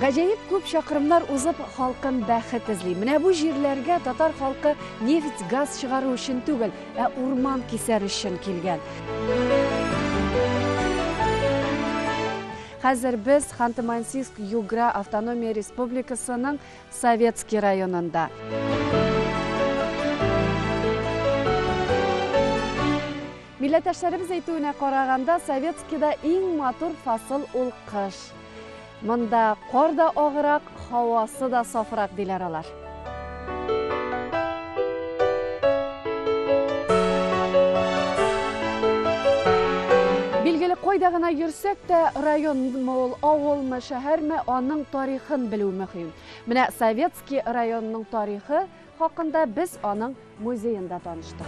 Гаҗәеп күп чакрымнар узып, халкым бәхет эзли. Менә бу җирләргә татар халкы нефть, газ чыгару өчен түгел, ә урман кисәр өчен килгән. Хәзер без Ханты-Мансийск Югра автономия республикасының Советский районында. Милләттәшләребез әйтүенә караганда, Советскийда иң матур фасыл ул кыш. Монда кар да агырак, һавасы да сафрак, диләр алар. Билгеле, кайда гына йөрсәк тә, районмы ул, авылмы, шәһәрме, аның тарихын белү мөһим. Менә Советский районының тарихы хакында без аның музеенда таныштык.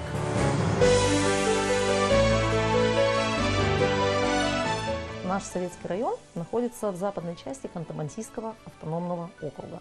Наш Советский район находится в западной части Ханты-Мансийского автономного округа.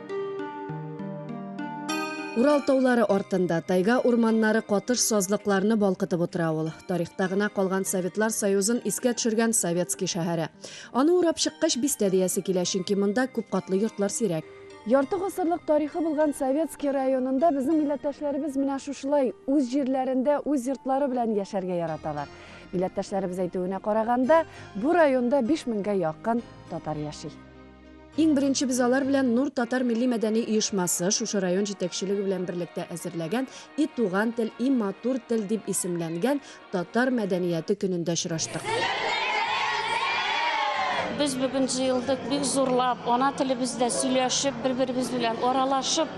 Урал таулары артында тайга урманнары катыш сазлыкларны балкытып утыра ул. Тарихта гына калган Советлар Союзын искә төшергән Советский шәһәре. Аны урап чыккач, бистә диясе килә, чөнки монда күп катлы йортлар сирәк. Ярты гасырлык тарихы булган Советский районында безнең милләттәшләребез менә шушылай үз җирләрендә үз йортлары белән яшәргә яраталар. Милләттәшләребез әйтүенә караганда, бу районда биш меңгә якын татар яши. Иң беренче без алар белән Нур татар милли-мәдәни оешмасы, шушы район җитәкчелеге белән берлектә әзерләгән И туган тел, и матур тел дип исемләнгән татар мәдәнияте көнендә очраштык. Без бүген җыелдык бик зурлап, ана телебездә сөйләшеп, бер-беребез белән аралашып.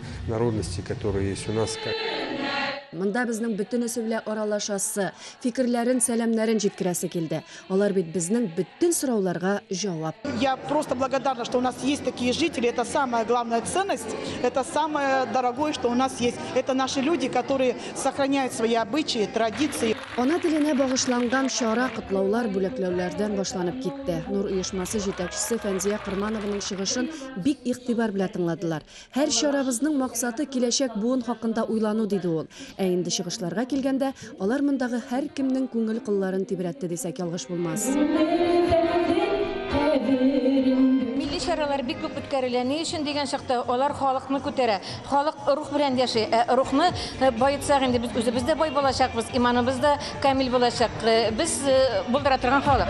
Народности которые есть у нас. Монда безнең бөтенесе белә аралашасы, фикерләрен, сәламнәрен җиткерәсе килде. Алар бит безнең бөтен сорауларга җавап. Я просто благодарна, что у нас есть такие жители, это самая главная ценность, это самое дорогое, что у нас есть. Это наши люди, которые сохраняют свои обычаи, традиции. Ана теленә багышланган чара котлаулар, бүләкләүләрдән башланып китте. Нур оешмасы җитәкчесе Фәнзия Кырманованың чыгышын бик игътибар белән тыңладылар. Һәр чарабызның максаты, киләчәк буын хакында уйлану, диде ул. Ә инде чыгышларга килгәндә, алар мондагы һәркемнең күңел кылларын тибрәтте дисәк ялгыш булмас. Милли чаралар бик күп үткәрелә. Ни өчен дигән чакта, алар халыкны күтәрә. Халык рух белән яши. Ә рухны баетсак, инде без үзебез дә бай булачакбыз, иманыбыз да Камил булачак. Без булдыра торган халык.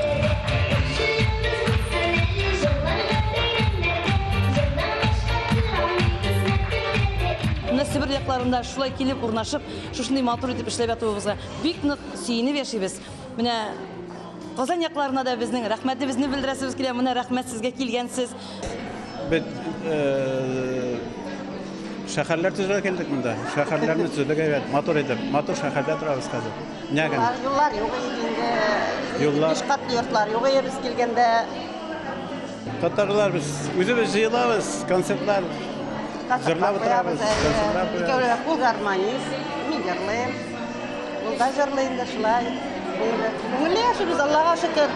Себер якларында шулай килеп урнашып, шушындый матур итеп эшләп ятуыбызга бик нык сөенеп яшибез. Менә Казан якларына да безнең рәхмәтебезне белдерәсебез килә. Менә рәхмәт сезгә килгәнсез. Без шәһәрләр төзергә килдек монда. Шәһәрләрне төзедек әйбәт, матур итеп. Матур шәһәрдә торабыз хәзер. Нәгән. Юллар юк инде. Юллар. Биш катлы йортлар юк иде без килгәндә. Татарлар без үзебез җыелабыз, концертлар җырлап утырабыз. Концертлар Икәүләп кул гармонист, мин җырлыйм. Ул да җырлый инде шулай. Күңелле яшибез, Аллага шөкер.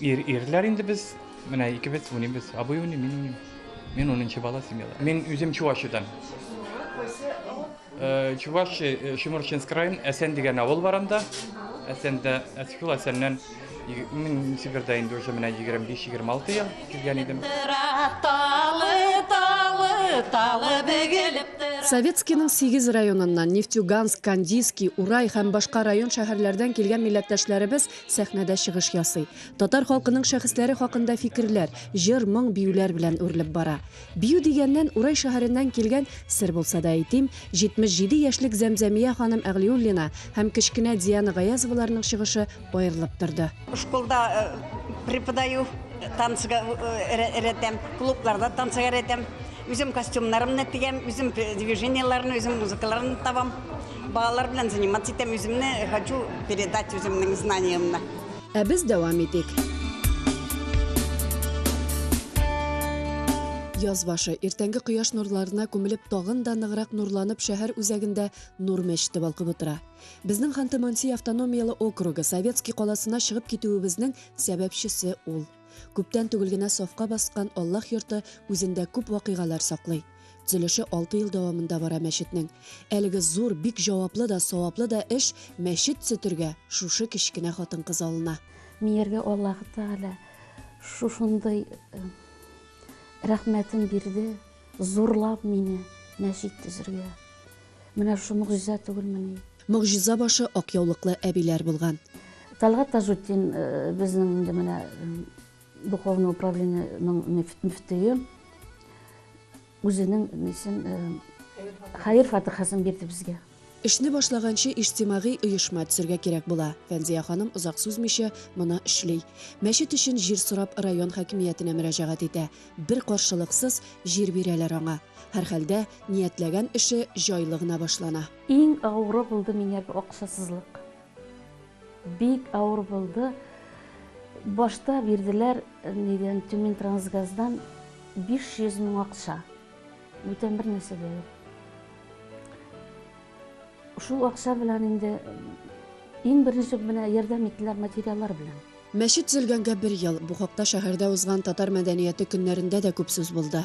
Ир, ирләр инде без, менә икебез уйныйбыз. Абый уйный, мин уйныйм. Мин унынчы бала семьяда. Мин үзем Чувашидан. Э, Чуваш э, Шиморчинск район Әсән дигән авыл бар анда. Әсәндә, әс- шул Әсәннән иг- мин Себердә инде уже менә 25-26 ел килгән идем. Тора талы, талы, талы бөгелеп тора. Советскийның сигез районыннан, Нефтьюганск, Кандийский, Урай һәм башка район-шәһәрләрдән килгән милләттәшләребез сәхнәдә чыгыш ясый. Татар халкының шәхесләре хакында фикерләр, җыр, моң, биюләр белән үрелеп бара. Бию дигәннән, Урай шәһәреннән килгән, сер булса да әйтим, 77 яшьлек Зәмзәмия ханым Әгълиуллина һәм кечкенә Диана Гаязоваларның чыгышы аерылып торды. Школда преподаю, танцга өйрәтәм, клубларда танцга өйрәтәм. Үзем костюмнарымны тегәм, үзем движениеләрне, үзем музыкаларны табам. Балалар белән заниматься итәм, үземне хочу передать үземнең знаниемны. Ә без дәвам итик. Яз башы, иртәнге кояш нурларына күмелеп, тагын да ныграк нурланып, шәһәр үзәгендә Нур мәчете балкып утыра. Безнең Ханты-Мансий автономияле округы Советский каласына чыгып китүебезнең сәбәпчесе ул. Күптән түгел генә сафка баскан Аллаһ йорты үзендә күп вакыйгалар саклый. Төзелеше 6 ел дәвамында бара мәчетнең. Әлеге зур, бик җаваплы да, саваплы да эш мәчет төзетергә шушы кечкенә хатын-кыз алына. Мияргә Аллаһы Тәгалә шушындый э, рәхмәтен бирде, зурлап мине мәчет төзергә. Менә шушы мөгъҗиза түгелмени? Мөгъҗиза башы ак яулыклы әбиләр булган. Талгат Тажутдин э, безнең инде менә э, Духовный управлениенең мөфтие үзенең нисен хәер фатихасын бирде безгә. Эшне башлаганчы иҗтимагый оешма төзергә кирәк була. Фәнзия ханым озак сузмыйча моны эшли. Мәчет өчен җир сорап район хакимиятенә мөрәҗәгать итә. Бер каршылыксыз җир бирәләр аңа. Һәрхәлдә, ниятләгән эше җайлы гына башлана. Иң авыры булды миңа акчасызлык. Бик авыр булды. Башта бирделәр нидән, Тюментрансгаздан 500 мең акча. Бүтән бер нәрсә дә юк. Шул акча белән инде иң беренче менә ярдәм иттеләр материаллар белән. Мәчет төзелгәнгә бер ел. Бу хакта шәһәрдә узган татар мәдәнияте көннәрендә дә күп сүз булды.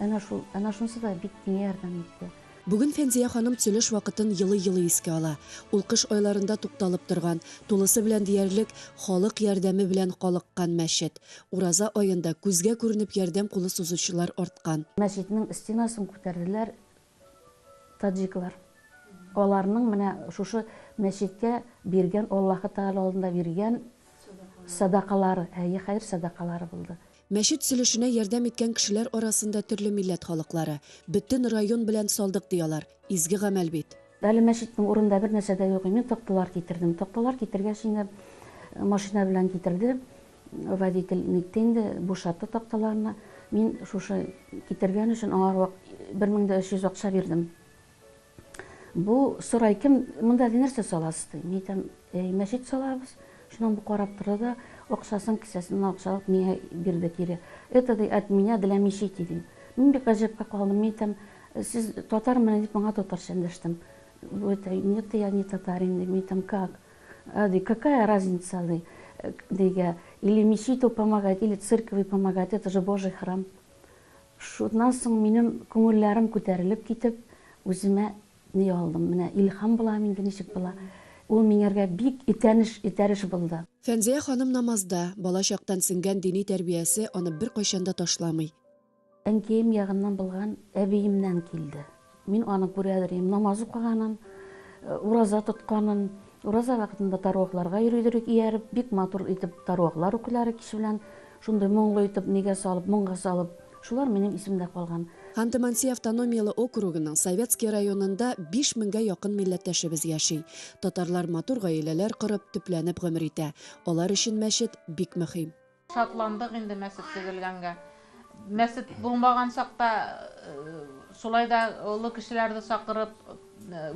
Әнә шул, әнә шунсы да бик миңа ярдәм итте. Бүген Фәнзия ханым Тилеш вакытын елый-елый искә ала. Ул кыш айларында тукталып торган, тулысы белән диярлек халык ярдәме белән калыккан мәчет. Ураза аенда күзгә күренеп ярдәм кулы сузучылар арткан. Мәчетнең стенасын күтәрделәр, Таҗиклар. Аларның менә шушы мәчеткә биргән, Аллаһы Тәгалә алдында биргән сәдакалары, әйе, хәер сәдакалары булды. Мәчет сөлешенә ярдәм иткән кешеләр арасында төрле милләт халыклары. Бөтен район белән салдык, ди алар. Изге гамәл бит. Әле мәчетнең урынында бернәрсә дә юк, мин такталар китердем. Такталар китергәч инде машина белән китерде. Водитель нитте инде, бушатты такталарны. Мин шушы китергән өчен аңа рвак бер мең дә өч йөз акча бирдем. Бу сорай, кем монда ди, нәрсә саласыз ди. Мин әйтәм, әй, мәчет салабыз. Шуннан бу карап торды да, акчасын кесәсеннән акча алып миңа бирде кире. Это ди от меня для мечети ди. Мин бик гаҗәпкә калдым. Мин әйтәм, сез татармыни дип аңа татарча эндәштем. Бу әйтә, нет, я не татарин ди. Мин әйтәм, как? Ди, какая разница, ди, диге, или мечету помогать, или церкви помогать, это же Божий храм. Шуннан соң минем күңелләрем күтәрелеп китеп, үземә ни алдым, менә илһам булам инде ничек була. Ул миңәргә бик итәнеш, этәреш булды. Фәнзия ханым намазда, бала чактан сеңгән дини тәрбиясе аны беркайчан да ташламый. Әнкәем ягыннан булган әбиемнән килде. Мин аны күрәдерим, намаз укыганын, ураза тотканын, ураза вакытында таруакларга йөридерик ияреп, бик матур итеп таруаклар укыйлар кич белән, шундый моңлы итеп, нигә салып, моңга салып, шулар минем исемдә калган. Ханты-Манси автономияле округының Советский районында биш меңгә якын милләттәшебез яши. Татарлар матур гаиләләр корып, төпләнеп гомер итә. Алар өчен мәчет, бик мөһим. Шатландык инде мәсет төзелгәнгә. Мәсет булмаган чакта шулай да олы кешеләрне чакырып,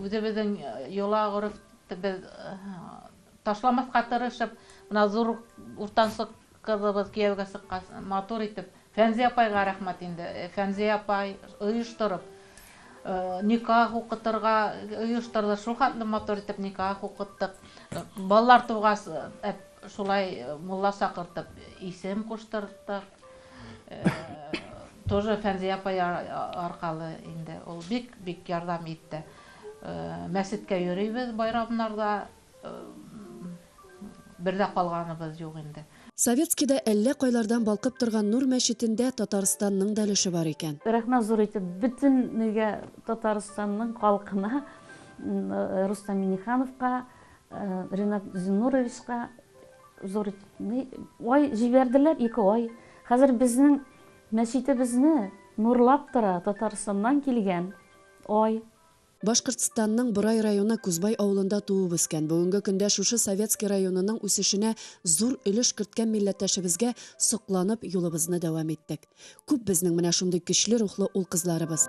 үзебезнең йола-горефтебез ташламаска тырышып, менә зур уртанчы кызыбыз кияүгә чыккач, матур итеп, Фәнзия апайга рәхмәт инде. Фәнзия апай оештырып, никах укытырга оештырды. Шулхәтле матур итеп никах укыттык. Балалар тугач, Шулай мулла чакыртып исем куштырттык. Тоже Фәнзия апай аркалы инде. Ул бик-бик ярдәм итте. Мәчеткә йөрибез байрамнарда. Бер дә калганыбыз юк инде. Советскийда әллә кайлардан балкып торган Нур мәчетендә Татарстанның да өлеше бар икән. Рәхмәт зур итеп бөтенегә, Татарстанның халкына, Рустам Миңнехановка, Ренат Зиннуровичка зур ай җибәрделәр, ике ай. Хәзер безнең мәчетебезне нурлап тора Татарстаннан килгән ай. Башкортстанның Борай районы Кузбай авылында туып-үскән, бүгенге көндә шушы Советский районының үсешенә зур өлеш керткән милләттәшебезгә сокланып юлыбызны дәвам иттек. Күп безнең менә шундый көчле рухлы ул-кызларыбыз.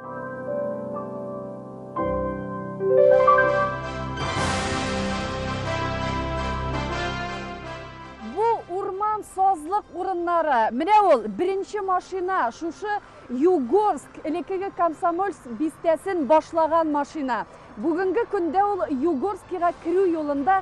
Бу урман сазлык урыннары. Менә ул, беренче машина, шушы Югорск, элеккеге Комсомольск бистәсен башлаган машина. Бүгенге көндә ул Югорскига керү юлында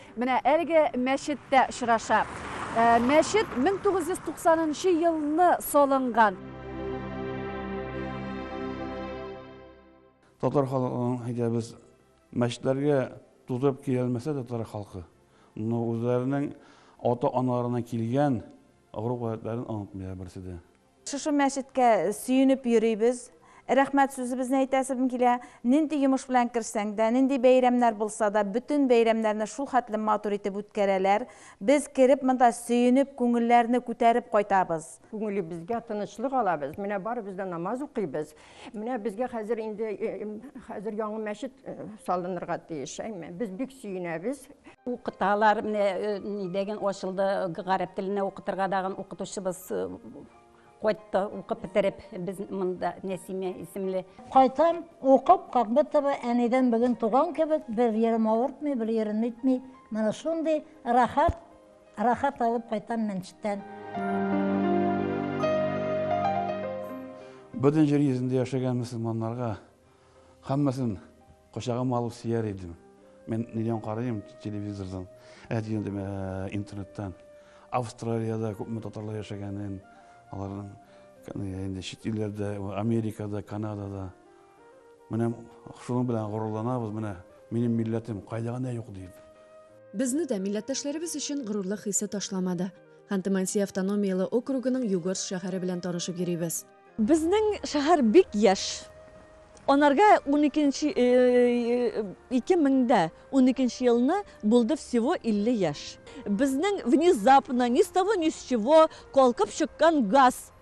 Менә әлеге мәчеттә очраша. Мәчет 1990 нчы елны салынган. Татар халкының әйтә без мәчетләргә тутырып киләлмәсә дә татар халкы, но үзләренең ата-аналарына килгән горур гадәтләрен онытмыйлар берсе дә. Шушы мәчеткә сөенеп йөрибез. Рәхмәт сүзебезне әйтәсем килә. Нинди йомыш белән керсәң дә, нинди бәйрәмнәр булса да, бөтен бәйрәмнәрне шул хәтле матур итеп үткәрәләр. Без кереп монда сөенеп, күңелләрне күтәреп кайтабыз. Күңелебезгә тынычлык алабыз. Менә барыбыз да намаз укыйбыз. Менә безгә хәзер инде хәзер яңа мәчет салынырга тиеш. Без бик сөенәбез. Укыталар, менә нидәген ачылды, гарәп теленә укытырга дагын укытучыбыз кайтты, укып бетереп, без монда Нәсимә исемле. Кайтам, укып, как будто бы әнидән бүген туган кебек, бер ерым авыртмый, бер ерым итми. Менә шундый рәхәт. Рахат алып кайтам мәнчеттән. Бөтен җир йөзендә яшәгән мөселманнарга һәммәсен кочагыма алып сөяр идем. Мин нидән карыйм телевизордан, әйтгәндем ә, интернеттан. Австралиядә күпме татарлар яшәгәнен, аларның инде чит илләрдә, Америкада, Канадада. Менә шуның белән горурланабыз, менә минем милләтем, кайда гына юк дип. Безне дә милләттәшләребез өчен горурлык хисе ташламады. Ханты-Манси автономияле округының Югорск шәһәре белән танышып йөрибез. Безнең шәһәр бик яшь. Анарга уникенче, ике мең дә уникенче елны булды всего илле яшь. Безнең внезапно, ни с того ни с чего калкып чыккан газ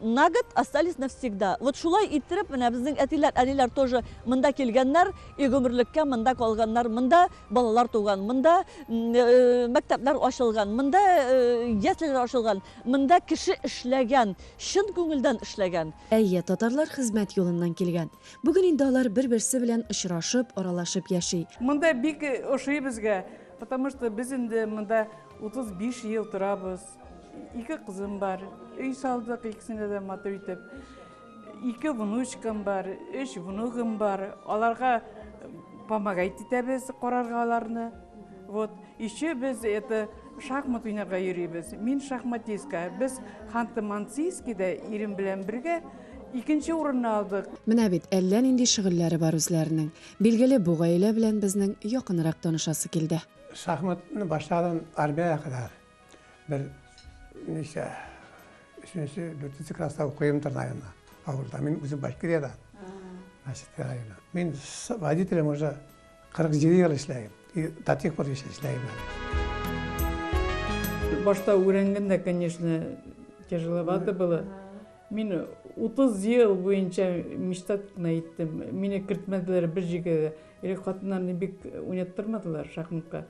На год остались навсегда. Вот шулай иттереп, менә безнең әтиләр, әниләр тоже монда килгәннәр, и гомерлеккә монда калганнар. Монда балалар туган, монда мәктәпләр ачылган, монда яслиләр ачылган, монда кеше эшләгән, чын күңелдән эшләгән. Әйе, татарлар хезмәт юлыннан килгән. Бүген инде алар бер-берсе белән очрашып, аралашып яши. Монда бик ошый безгә, потому что без инде монда 35 ел торабыз. Ике кызым бар, өй салдык икесенә дә матур итеп. Ике внучкам бар, өч внугым бар. Аларга помогать итәбез, карарга аларны. Вот, еще без это шахмат уйнарга йөрибез. Мин шахматистка. Без Ханты-Мансийскида ирем белән бергә икенче урынны алдык. Менә бит әллә нинди шөгыльләре бар үзләренең. Билгеле, бу гаилә белән безнең якынрак танышасы килде. Шахматны башладым армиягә кадәр. Бер ничә өченче, дүртенче класста укыйм Тырнайына. Авылда. Мин үзем Башкирияда. Мәчет районы. Мин водителем уже 47 ел эшләйм. И до тех пор еще эшләйм. Башта үрәнгәндә, конечно, тяжеловато было. Мин 30 ел буенча мечта тотына иттем. Мине кертмәделәр бер җигә. Или хатыннарны бик уйнаттырмадылар шахматка.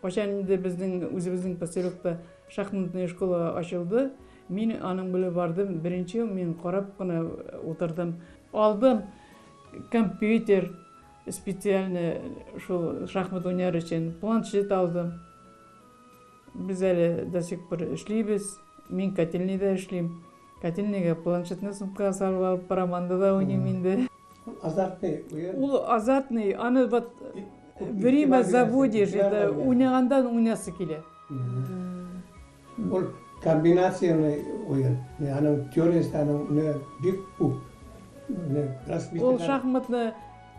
Кайчан инде безнең үзебезнең поселокта шахматная школа ачылды, мин аның белән бардым, беренче мин карап кына утырдым. Алдым компьютер, специальный шул шахмат уйнар өчен, планшет алдым. Без әле до сих пор эшлибез, мин котельныйда эшлим. Катин нигә планшетны сумкага салып алып бара, монда да уйныйм инде. Ул азартный уен. Ул азартный, аны вот время заводишь, это уйнагандан уйнасы килә. Ул комбинацияле уен. Аның теориясе аның менә бик күп. Ул шахматны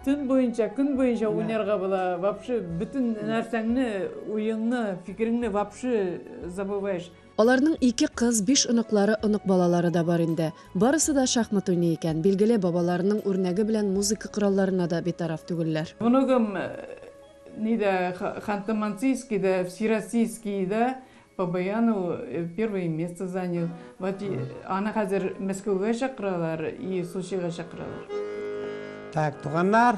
төн буенча, көн буенча уйнарга була. Вообще бөтен нәрсәңне, уеңны, фикереңне вообще забываешь. Аларның ике кыз, биш оныклары, онык балалары да бар инде. Барысы да шахмат уйный икән. Билгеле, бабаларының үрнәге белән музыка коралларына да битараф түгелләр. Оныгым нидә, Ханты-Мансийскида, Всероссийскида по баяну первое место занял. Вот аны хәзер Мәскәүгә чакыралар и Сочига чакыралар. Так, туганнар,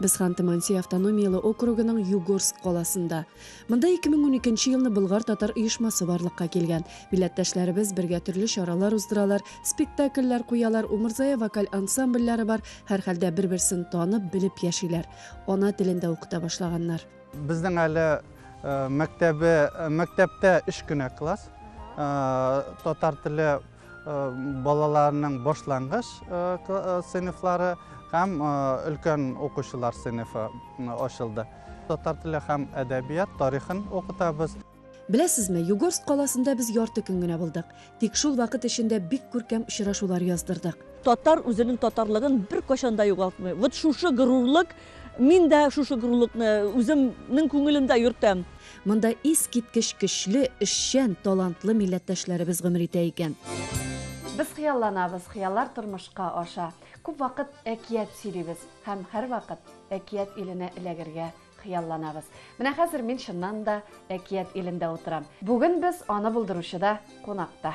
Без Ханты-Мансийи автономияле округының Югорск каласында. Монда 2012 нче елны Болгар-татар оешмасы барлыкка килгән. Милләттәшләребез бергә төрле чаралар уздыралар, спектакльләр куялар, Умырзая вокаль ансамбльләре бар, һәрхәлдә бер-берсен танып, белеп яшиләр. Ана телен дә укыта башлаганнар. Безнең әле мәктәбе, мәктәптә өч кенә класс татар теле. Балаларның башлангыч сыйныфлары һәм өлкән укучылар сыйныфы ачылды. Татар теле һәм әдәбият тарихын укытабыз. Беләсезме, Югорск каласында без ярты көн генә булдык. Тик шул вакыт эчендә бик күркәм очрашулар яздырдык. Татар үзенең татарлыгын беркайчан да югалтмый. Вот шушы горурлык Мин дә шушы горурлыкны үземнең күңелемдә йөртәм. Монда искиткеч көчле, эшчән, талантлы милләттәшләребез гомер итә икән. Без хыялланабыз, хыяллар тормышка аша. Күп вакыт әкият сөйлибез һәм һәрвакыт әкият иленә эләгергә хыялланабыз. Менә хәзер мин чыннан да әкият илендә утырам. Бүген без аны булдыручы да кунакта.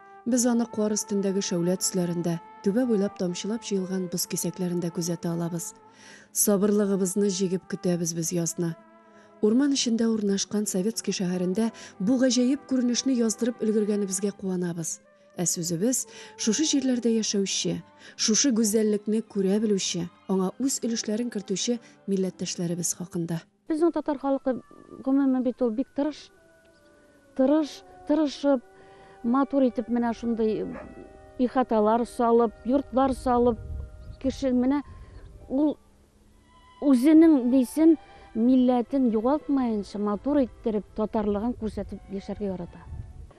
Без аны кар өстендәге шәүлә төсләрендә, түбә буйлап тамчылап җыелган боз кисәкләрендә күзәтә алабыз. Сабырлыгыбызны җигеп көтәбез без язны. Урман эчендә урнашкан Советский шәһәрендә бу гаҗәеп күренешне яздырып өлгергәнебезгә куанабыз. Ә сүзебез, шушы җирләрдә яшәүче, шушы гүзәллекне күрә белүче, аңа үз өлешләрен кертүче милләттәшләребез хакында. Безнең татар халкы, гомумән, бит ул бик тырыш. Тырыш, тырышып, матур итеп менә шундый ихаталар салып, йортлар салып, кеше менә ул үзенең дисен милләтен югалтмаенча матур иттереп, татарлыгын күрсәтеп яшәргә ярата.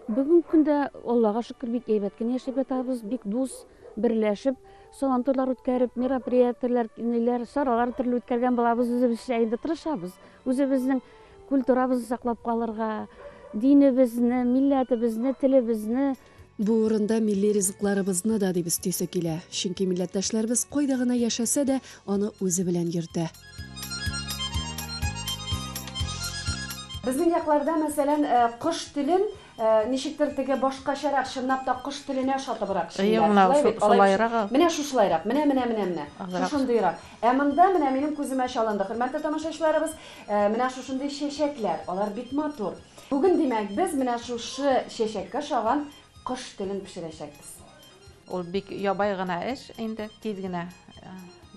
Бүгенге көндә, Аллага шөкер, бик әйбәт кенә яшәп ятабыз, бик дус, берләшеп. Сабантуйлар үткәреп, мероприятиеләр, ниләр, чаралар төрле үткәргән булабыз. Үзебезчә инде тырышабыз. Үзебезнең культурабызны саклап калырга, динебезне, милләтебезне, телебезне. Бу урында милли ризыкларыбызны да дип өстисе килә. Чөнки милләттәшләребез кайда гына яшәсә дә, аны үзе белән йөртә. Безнең якларда, мәсәлән, кош телен Ничектер теге башкачарак, чынлап та кош теленә ошатыбрак эшлиләр. Шулай бит, алай бит. Шулайрак ул. Менә шушылайрак, менә, менә, менә, менә. Шушындыйрак. Ә монда менә минем күземә чалынды, хөрмәтле тамашачыларыбыз, менә шушындый чәчәкләр. Алар бик матур. Бүген, димәк, без менә шушы чәчәккә ошаган кош телен пешерәчәкбез. Ул бик ябай гына эш инде, тиз генә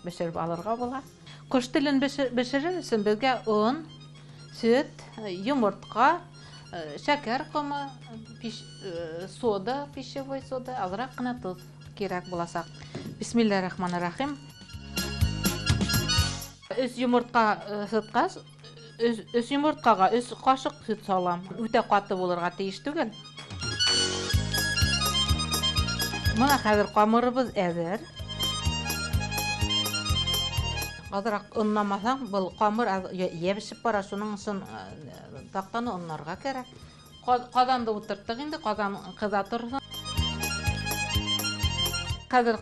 бешереп алырга була. Кош телен бешерер өчен безгә он, сөт, йомыртка, шәкәр комы, сода, пищевой сода, азрак кына тоз кирәк булачак. Бисмиллаһ рахманир рахим. Өч йомыртка сыткач, Өс йомырткага өс кашык сөт салам. Үтә каты булырга тиеш түгел. Менә хәзер камырыбыз әзер. Азрак оннамасаң, был камыр ябешеп бара, шуның өчен тактаны оннарга кирәк. Казанды утырттык инде, казан кыза торсын. Хәзер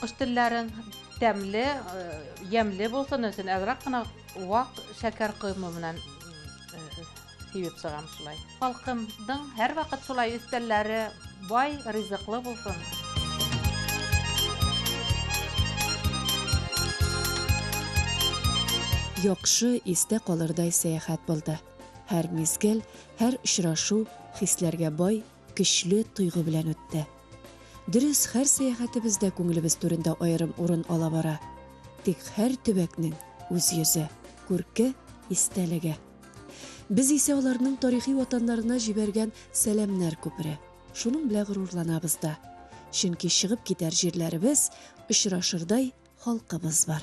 Кош телләрен тәмле, ямьле булсын өчен азрак кына вак шәкәр коймы белән сибеп чыгам шулай. Халкымның һәрвакыт шулай өстәлләре бай, ризыклы булсын. Яхшы, истә калырдай сәяхәт булды. Һәр мизгел, һәр очрашу хисләргә бай, Көчле тойгы белән үтте. Дөрес, һәр сәяхәтебез дә күңелебез түрендә аерым урын ала бара. Тик һәр төбәкнең үз йөзе, күрке, истәлеге. Без исә аларның тарихи ватаннарына җибәргән сәламнәр күпере. Шуның белән горурланабыз да. Чөнки чыгып китәр җирләребез очрашырдай халкыбыз бар.